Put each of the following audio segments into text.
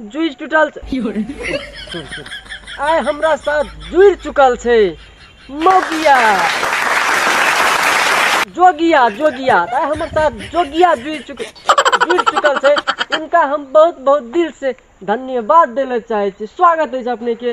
जुझ टूटल आय हमरा साथ जुड़ चुकल छे मोगिया जोगिया जोगिया आय हमर साथ जोगिया जुड़ चुक जुड़ चुकल छे इनका हम बहुत बहुत दिल से धन्यवाद देना चाहे छी स्वागत है अपने के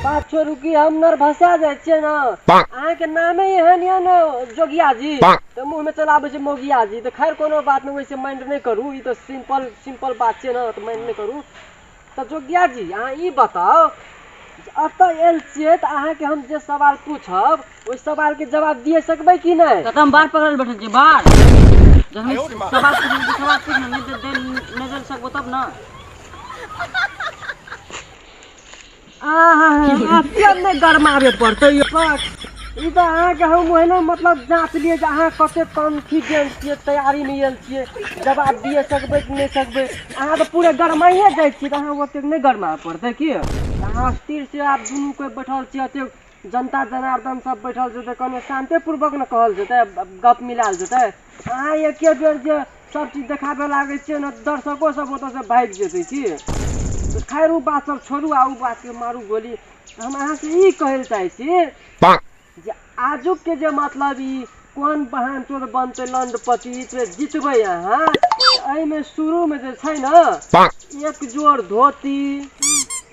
बात छोड़ू कि हम नर भसा जाइ छियै ने अहाँके नामे एहन यऽ ने जोगिया जी तऽ मुँह में चलाबै छै मोगिया जी तऽ खैर कोनो बात नहि वैसे माइंड नहि करू ई तऽ सिंपल सिंपल बात छै ने तऽ माइंड नहि करू तऽ जोगिया जी अहाँ ई बताउ एतऽ आयल छियै तऽ अहाँके हम जे सवाल पूछब ओहि सवाल के जवाब दिए सकबै कि नहि कतऽ हम बाढ़ पकड़ल बैठल छी बाढ़ जखन सवाल पूछल तऽ सवाल पूछ ने नहि दे नहि दे सकबो तब ने आहा किया नहि गरमाबे पड़तै यौ ई तऽ अहाँके हम ओहिना मतलब जाँच लिए जे अहाँ कते कॉन्फिडेंस छियै तैयारीमे आयल छियै जवाब दिए सकबै कि नहि सकबै अहाँ तऽ पूरे गरमाइए जाइ छियै तऽ अहाँ ओतेक नहि गरमा पड़तै की अहाँ स्थिर से आब दुनू कोइ बैठल छियै एतेक जनता जनार्दन सब बैठल छै तऽ कने शांति पूर्वक ने कहल जेतै गप मिलाल जेतै अहाँ एके बेर जे सब चीज देखाबे लागै छियै ने दर्शको सब ओतऽ से भागि जेतै की तऽ खैर ओ बात सब छोड़ू आ ओ बात के मारू गोली हम अहाँ से ई कहै लए चाहै छी जे आजुक के जे मतलब ई कोन बहन चोर बनतै लंडपति से जितबै अहाँ एहिमे शुरू मे जे छै ने एक जोड़ धोती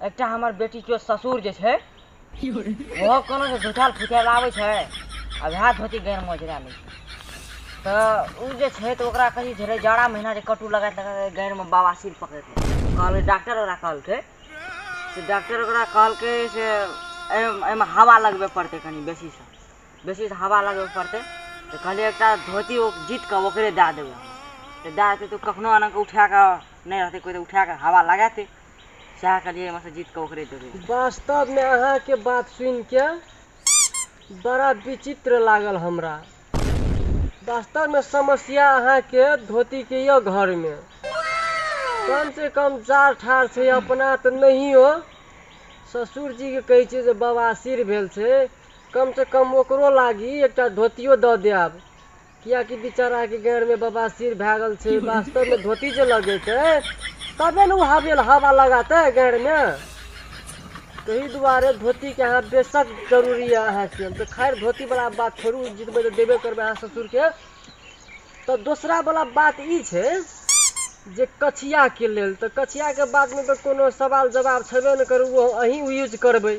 एकटा हमर बेटी के ससुर जे छै ओहो कोनो जे झुठल फुठल आबै छै आ वएह धोती गैर मोजरा लै छै तऽ ओ जे छै तऽ ओकरा कही झेलै जाड़ा महीना जे कटू लगाइत लगाइत गैरमे बवासीर पकड़ि लै छै। कहलकै डॉक्टर ओकरा कहलकै से डॉक्टर ओकरा कहलकै से एहिमे एहिमे हवा लगबे पड़तै कनि बेसीसँ बेसीसँ हवा लगबे पड़तै तऽ कहलियै एकटा धोती ओ जीत कऽ ओकरे दए देबै हम। तऽ दए देतै तऽ ओ कखनो एना कऽ उठा कऽ नहि रहतै कोइ तऽ उठा कऽ हवा लगातै सएह कहलियै एहिमे सँ जीत कऽ ओकरे देबै वास्तव में अहाँ के बात सुन के बड़ा विचित्र लागल हमरा वास्तव में समस्या अहाँ के धोती के ये घर में कम से कम जार ठार छै अपना तऽ नहियो ससुर जी के कहै छियै जे बवासीर भेल छै कम से कम ओकरो लागी एकटा धोतियो दऽ देब किया कि बिचारा के गैर में बबासीर भए गेल छै वास्तव में धोती जे लगेते तबे ने ओ हवेल हवा लगाते गैर में तही दुआरे धोती के अहाँ बेशक जरूरी है अहाँ के तो खैर धोती वाला बात छोड़ू जितबे तो देबे करबे अहाँ ससुर के तो दूसरा वाला बात ई छै जे कछिया के लेल तो कछिया के बात में तो कोनो सवाल जवाब छेबे ने करू वो अहीं यूज करबे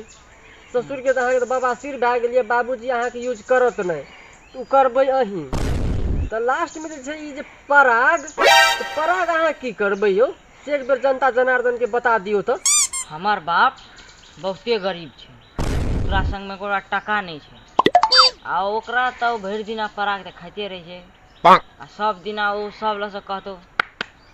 ससुर के तऽ अहाँके तऽ बबासीर भए गेल यऽ बाबूजी अहाँके यूज करत नहि तऽ ओ करबै अहीं तऽ लास्टमे जे छै ई जे पराग तऽ पराग अहाँ की करबै यौ से एक बेर जनता जनार्दन के बता दियौ तऽ हमर बाप बहुते गरीब छै ओकरा संग मे ओकरा टका नहि छै आ ओकरा तऽ ओ भरि दिना पराग तऽ खाइते रहै छै आ सब दिना ओ सब लऽ से कहतौ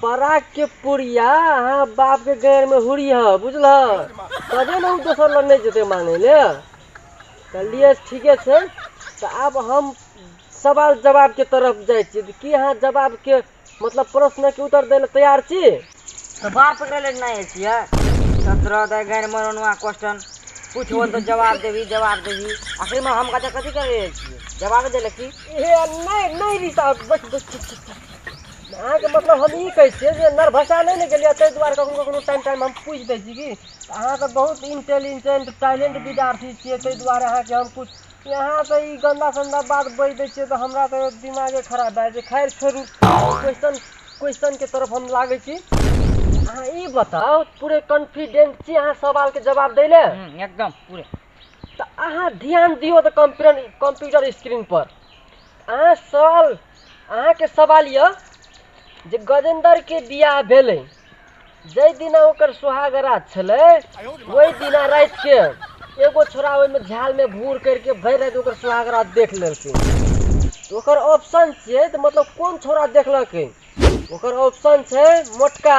पराग के पुरिया अहाँ बाप के गैर में हुरी ह बुझलह तबे ने उ दोसर लग नहीं जते मांगे ले कहलिए ठीके छै तो अब हम सवाल जवाब के तरफ जाए छी कि अहाँ जवाब के मतलब प्रश्न के उत्तर देले तैयार छी तो बार पकड़े ले नहीं छिए सत्रह दे गैर में रोनुआ क्वेश्चन पूछबो तो जवाब देबी जवाब देबी आखिर में हम कते कथी कर रहे छिए जवाब देले की ए नहीं नहीं रिसाव बस बस अहाँके मतलब हम ई कहै छियै जे नरभसा नहि ने गेलियै ताहि दुआरे कखनो कखनो टाइम टाइम हम पूछि दै छी कि अहाँ तऽ बहुत इंटेलिजेंट टैलेंट विद्यार्थी छियै ताहि दुआरे अहाँके हम पूछ अहाँ तऽ ई गन्दा सन्दा बात बजि दै छियै तऽ हमरा तऽ दिमागे खराब भए जाइ छै खैर छोड़ू क्वेश्चन क्वेश्चनके तरफ हम लागै छी अहाँ ई बताउ पूरे कॉन्फिडेंट छी अहाँ सवालके जवाब दै लए हम्म, एकदम पूरे तऽ अहाँ ध्यान दियौ तऽ कंप्यूटर कंप्यूटर स्क्रीन पर अहाँ सवाल अहाँके सवाल यऽ जे गजेंद्रके बियाह भेलै जाहि दिना ओकर सुहागरात छलै ओहि दिना रातिके एगो छोरा ओहिमे झालमे भूर करिके भरि राति ओकर सुहागरात देख लेलकै तऽ ओकर ऑप्शन छियै तऽ मतलब कोन छोरा देखलकै ओकर ऑप्शन छै मोटका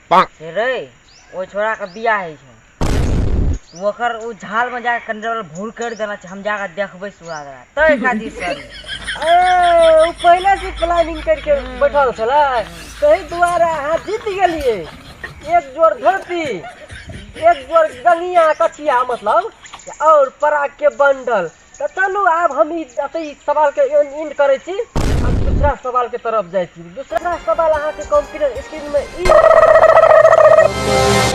रे ओहि छोड़ा के बियाह होइ छै ओकर ओ झाल में जाके कंडल भूर कर देना छै हम जाके देखबे सुहाग रात तय खातिर सर ओ पहले से प्लानिंग करके बैठल छल तही दुआरे अहाँ जीत गेलिए एक जोर धरती एक जोर गलिया कचिया मतलब और पराग के बंडल तऽ चलू आब हम ई एतै ई सवालके एंड करै छी हम दूसरा सवालके तरफ जाइ छी दूसरा सवाल अहाँके कंप्यूटर स्क्रीनमे ई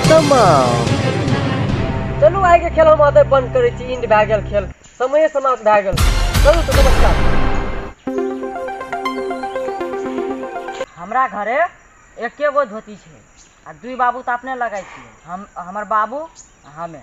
तमाम चलू आइके खेल हम एतै बन्द करै छी इंड भए गेल खेल समय समाप्त भए गेल चलू तऽ नमस्कार हमरा घरे एके गो धोती छै आ दुई बाबू तऽ अपने लगाइ छियै हम हमर बाबू आ हमे